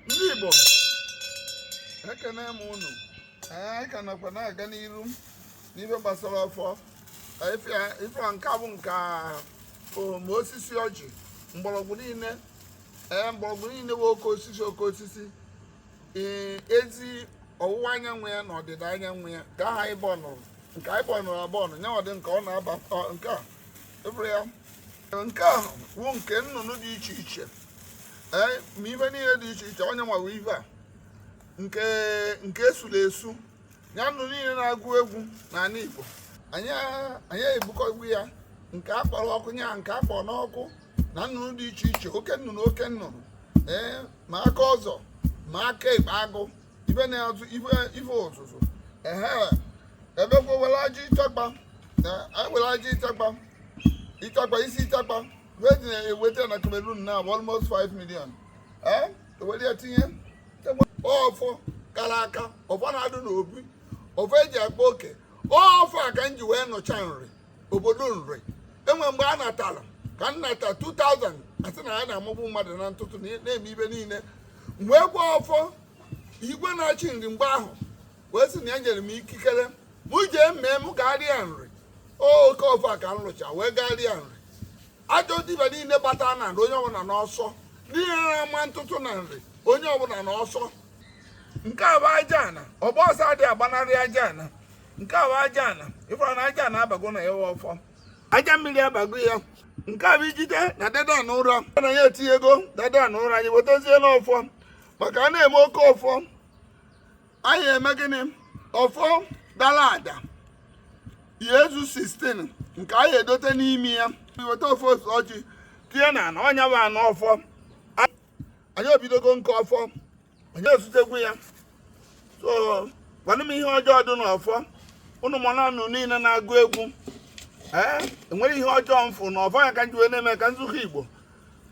ndị Igbo ekene m unu anyị ka nakwa na-aga n'iru n'ife gbasara ọfọ ife nke bụ nke ma osisi ọjị mgbọrọgwụ niile ee mgbọrọgwụ niile bụ oke osisi oke osisi ee ezi ọwụwa anyanwụ ya na ọdịda anyanwụ ya ka aha anyị bọnụrụ nke anyị bọnụrụ abọnụ nyanwa dị nke ọ na-aba nke a ịbụrụ ya nke ahụ wụ nke nnụnụ dị iche iche ee ma ife niile dị iche iche onye nwawa ife a nke nke esula esu ya nnụnụ niile na-agụ egwu n'ala Igbo anyị anyị ebukọ egwu ya nke a kpọrọ ọkụ ya nke a kpọrọ n'ọkụ na nnụnụ dị iche iche oke nnụnụ oke nnụnụ ee ma aka ọzọ ma aka ekpe agụ ife na-azụ ife ife ọzụzụ ehe ebekwa were aja ịchakpa na anyị were aja ịchakpa ịchakpa isi ịchakpa wee dị na-eweta na Cameroon na almost 5 million ee ewere ya tinye ọfọ kara aka ọfọ na-adụ n'obi ọfọ eji akpa oke ọfọ a ka m ji wee nụcha nri obodo nri e nwee mgbe a natara ka m nata 2000 a sị na ya na-amagbu mmadụ na ntụtụ na-eme ife niile wee gwa ọfọ igwe na-achị nri mgbe ahụ wee sị na ya nyere m ikikere mụ jee mee m garịa nri oke ọfọ a ka m lụcha wee garịa nri ajọ dibịa niile gbata na nri onye ọbụla n'ọsọ ndị na-ama ntụtụ na nri onye ọbụla n'ọsọ nke a bụ aja ana ọgba ọsọ adịghị agbanarị aja ana nke a bụ aja ana ị fụrụ na aja ana abago na ya ọfọ aja mmiri abago ya nke a bụ ijide na dada na ụrọ na ya etinye ego dada na ụrọ anyị wetazie n'ọfọ maka a na-eme oke ọfọ anyị eme gịnị ọfọ dara ada ya ezu 16 nke anyị edote n'ime ya weta ọfọ ose ọjị tinye na ana ọnya bụ anụ ọfọ anyị ebidogo nke ọfọ anyị ezutekwu ya so gwanụ m ihe ọjọọ dị n'ọfọ ụmụ nnụnụ niile na-agụ egwu ee enwere ihe ọjọọ m fụ na ọfọ ya ka m ji wee na-eme ka nzukọ igbo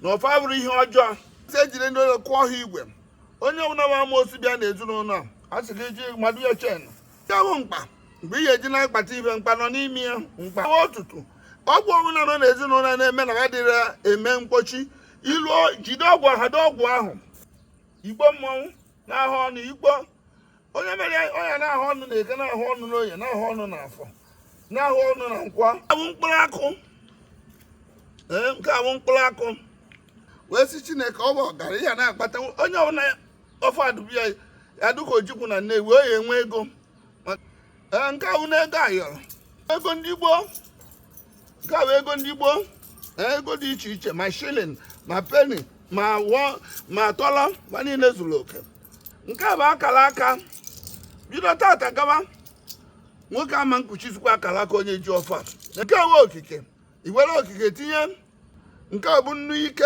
na ọfọ abụrọ ihe ọjọọ si ejiri ndị ụlọ kụọ ha igwe onye ọbụla bụ amaosu bịa na ezinụlọ a sị gị ji mmadụ ya chen ya bụ mkpa mgbe ị ga-eji na-akpata ife mkpa nọ n'ime ya mkpa ọtụtụ ọgwụ ọbụla nọ n'ezinụlọ na-eme na ha dịrị eme mkpochi ilu jide ọgwụ ha dị ọgwụ ahụ ikpo mmọnwụ na-ahụ ọnụ ikpo onye mere ọnya na-ahụ ọnụ na eke na-ahụ ọnụ n'oye na-ahụ ọnụ na afọ na-ahụ ọnụ na nkwọ a bụ mkpụrụ akụ ee nke a bụ mkpụrụ akụ wee sị chineke ọ bụ ọgaranya na-akpata onye ọbụla ọfọ adụbụ ya ya dịka ojukwu na nnewi ọ ya enwe ego ee nke ahụ na ego ayọrọ ego ndị gboo nke a bụ ego ndị gboo ee, ego dị iche iche ma shilling ma penny ma tọlọ ma niile zuru oke nke a bụ akara aka bido tata gaba nwoke ama nkuchizikwa akara aka onye ji ọfọ a. nke a bụ okike i were okike tinye nke a bụ nnu ike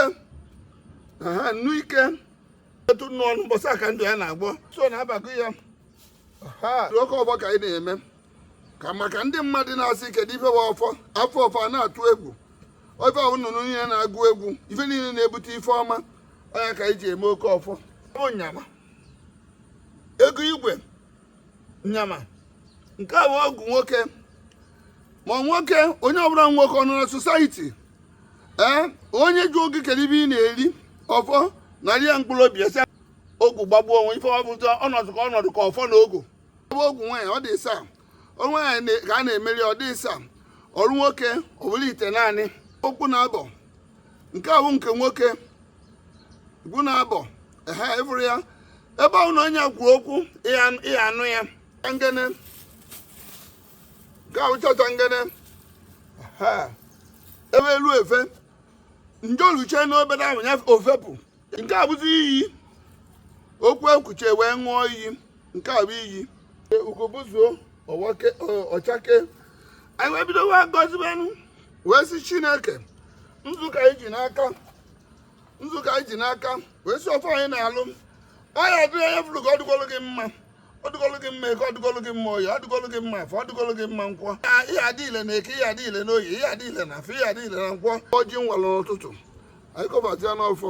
aha nnu ike etu nnu ọnụ mbọsị aka ndụ ya na-agbọ so na abago ya oke ọfọ ka anyị na-eme ka maka ndị mmadụ na-asị kedu ife bụ ọfọ afọ ọfọ na-atụ egwu ofe ahụ nnụnụ niile na-agụ egwu ife niile na-ebute ife ọma ọ nya ka anyị ji eme oke ọfọ bụ nyama ego igwe nyama nke a bụ ogu nwoke ma nwoke onye ọbụla nwoke nọ na sosaiti ee onye jụọ gị kedu ibe ị na-eri ọfọ narị ya mkpụrụ obi esi ogu gbagbuo onwe ife ọbụta ọnọdụ ka ọnọdụ ka ọfọ na ogu ebe ogu nwaanyị ọ dị ịsa nwaanyị ka a na-emeri ọ dị ịsa ọ bụrụ nwoke ọ bụlụ itenaanị ogu naabọ nke a bụ nke nwoke ogu naabọ ehe ị fụrụ ya ebe ọ na onye kwuru okwu ịya ịya anụ ya ngene nke a bụ chọcha ngene ehe ebe elu efe njoluche n'obere ahụ ya ofepụ nke a bụzi iyi okwu e kwuchee wee ṅụọ iyi nke a bụ iyi ugobuzuo ọchake anyị wee bido wee gọzibenụ wee sị chineke nzukọ anyị ji n'aka nzukọ anyị ji n'aka wee sị ife onye na-alụ ọ ya dịrị onye fụrụ ka ọ dịgolu gị mma ọ dịgolu gị mma eke ọ dịgolu gị mma oyi ọ dịgolu gị mma afọ ọ dịgolu gị mma nkwọ ihe adị ile na eke ihe adị ile na oyi ihe adị ile na afọ ihe adị ile na nkwọ ọjị m walụ n'ụtụtụ anyị kọbata ya n'ọfọ